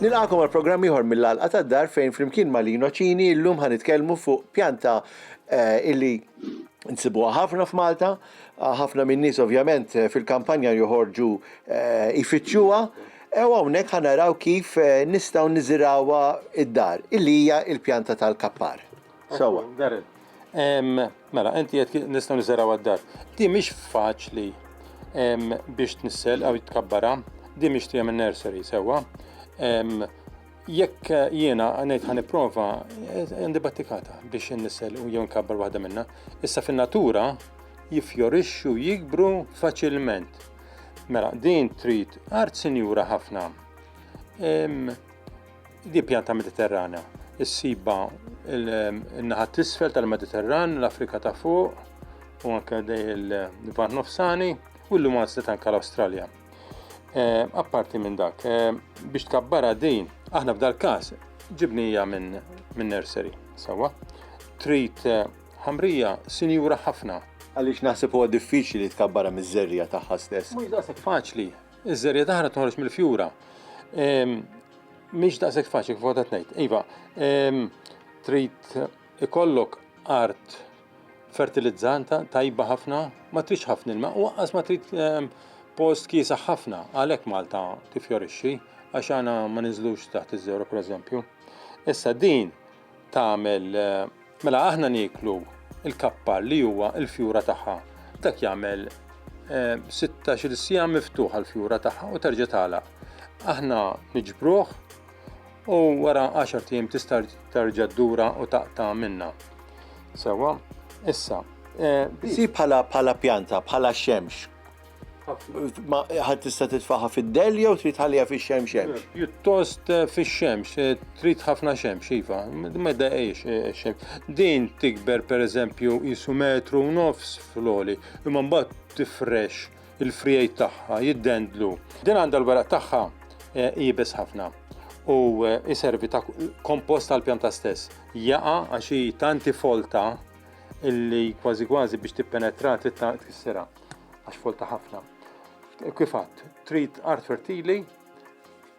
Nilqagħkom għal programm ieħor mill-Għalqa tad-Dar fejn flimkien ma' Lino Cini llum ħanitkellmu fuq pjanta eh, illi nsibuha ħafna f'Malta Ħafna min-nies ovvjament fil-kampanja joħorġu jfittxuha u hawnhekk ħa naraw kif nistgħu niżirawha id-dar, illi hija l-pjanta tal-kappar. Sewwa. Darren. Mela, inti qed nistgħu niżirawha d-dar. Di mhix faċli biex tnissel jew tkabbarha, di mixtieqa minn nursery, sewwa. Jekk jiena għanajt ħan prova, għandi battikata biex n-nisel u jew nkabbar waħda minna. Issa fin-natura jifjorixxu jikbru faċilment. Mela, din trid art sinjura ħafna. Di pjanta mediterrana. Issiba il-naħat t-isfel tal-Mediterran, l-Afrika ta' fuq, u anke il-Van Nofsani, u l-lumans li tanka l-Australja. Eh, apparti minn dak, eh, biex tkabbara din, aħna f'dal każ ġibnija minn min nursery, sawa. Trid eh, ħamrija sinjura ħafna. Għaliex naħseb huwa diffiċli li tkabbara miż-żerja tagħha stess. Mhux daqshekk faċli. Iż-żerja taħra toħroġ mill-fjura. Ehm, mhix daqshekk faċli kif qed ngħid. Iva, ehm, trid ikollok art fertilizzanta tajba ħafna, ma tridx ħafna ilma u waqqas ma trid ehm, post kiesaħ ħafna, għalhekk Malta tifjorixxi għax għana ma ninżlux taħt iż-żewra pereżempju. Issa din tagħmel eh, mela aħna nieklu il-kappar li huwa il-fjura tagħha. Dak jagħmel 16 eh, sija miftuħa l-fjura tagħha u terġa' tagħlaq. Aħna niġbruh u wara 10 tim tista' terġa' ddura u taqta' minna. Sewa, issa. Eh, si bħala bħala pjanta, bħala xemx. Ħad tista' titfaħa fid-del jew trid ħalija fix-xemx xemx? Eh, pjuttost eh, fix-xemx, trid ħafna xemx, iva, ma daqiex xemx. Din tikber pereżempju isu metru u nofs fl-oli, imma mbagħad tifrex il-frijajt tagħha jiddendlu. Din għandha l-weraq tagħha eh, jibes ħafna u jiservi eh, ta' kompost tal-pjanta stess. Jaqa għax hi tanti folta illi kważi kważi biex tippenetra tissera għax folta ħafna. Kifat, trid art fertili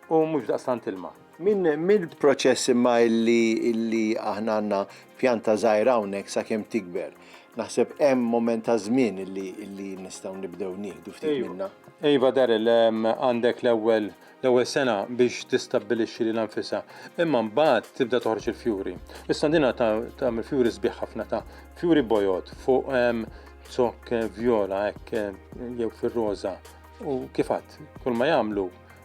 u mhux daqstant ilma. Minn mill-proċess imma illi illi aħna għandna pjanta żgħira hawnhekk sakemm tikber. Naħseb hemm moment ta' żmien illi illi nistgħu nibdew nieħdu ftit minnha. Iva Darryl, għandek l-ewwel l-ewwel sena biex tistabbilixxi lilha nfisha, imma mbagħad tibda toħroġ il-fjuri. Is-sandina ta' tagħmel fjuri sbieħ ħafna ta' fjuri bojod fuq zokk vjola hekk jew fir-roża. U kif għadt, kull ma jagħmlu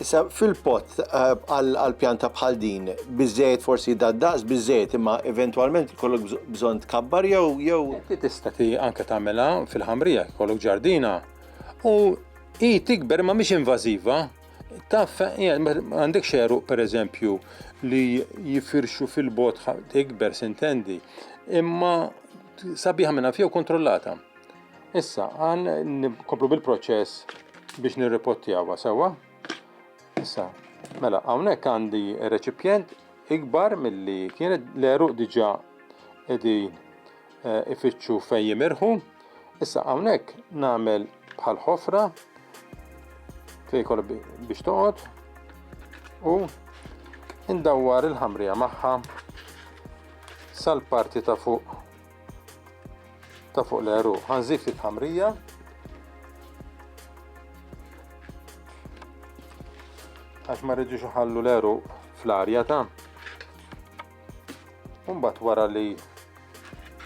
Issa fil-pot eh, għal pjanta bħal din, biżejjed forsi daddaqs biżejjed imma eventwalment kollok bżonn tkabbar jew jew. Ti tista' ti anke tagħmilha fil-ħamrija kollok ġardina u hi tikber ma mhix invażiva. Taf għandek xeru pereżempju li jifirxu fil-bot tikber sintendi imma sabiħa minna fjew kontrollata. Issa, għan nkomplu bil-proċess biex nirripottjawa sewa. Issa, mela, għawnek għandi reċipjent ikbar mill-li kienet l-eruq diġa edin eh, ifittxu fej jimirħu. Issa għawnek namel bħal ħofra fej kol biex toqot u indawwar il-ħamrija maħħa sal-parti ta' fuq ta' fuq l-għeruq. Ħanżid ftit ħamrija. Għax ma rridux iħallu l-għeruq fl-arja ta' Umbat wara li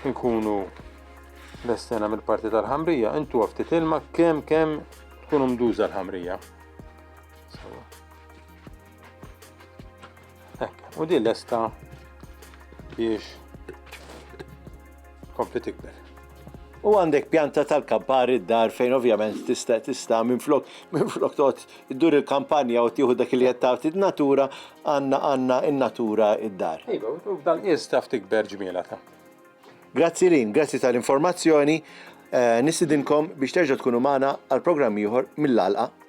nkunu l-estena mill-parti tal-ħamrija, intu ftit ilma kem kem tkun mduża l-ħamrija. Hekk, u din lesta biex kompli tikber. U għandek pjanta tal-kampar id-dar fejn ovvjament tista' tista' minn flok minn flok tot iddur il-kampanja u tieħu dak li qed tagħti natura għandna għandna in-natura id-dar. Iva, u f'dan qies taf tikber ġmiela ta'. Grazzi lin, grazzi tal-informazzjoni. Eh, Nistidinkom biex terġa' tkunu magħna għal programm ieħor mill-għalqa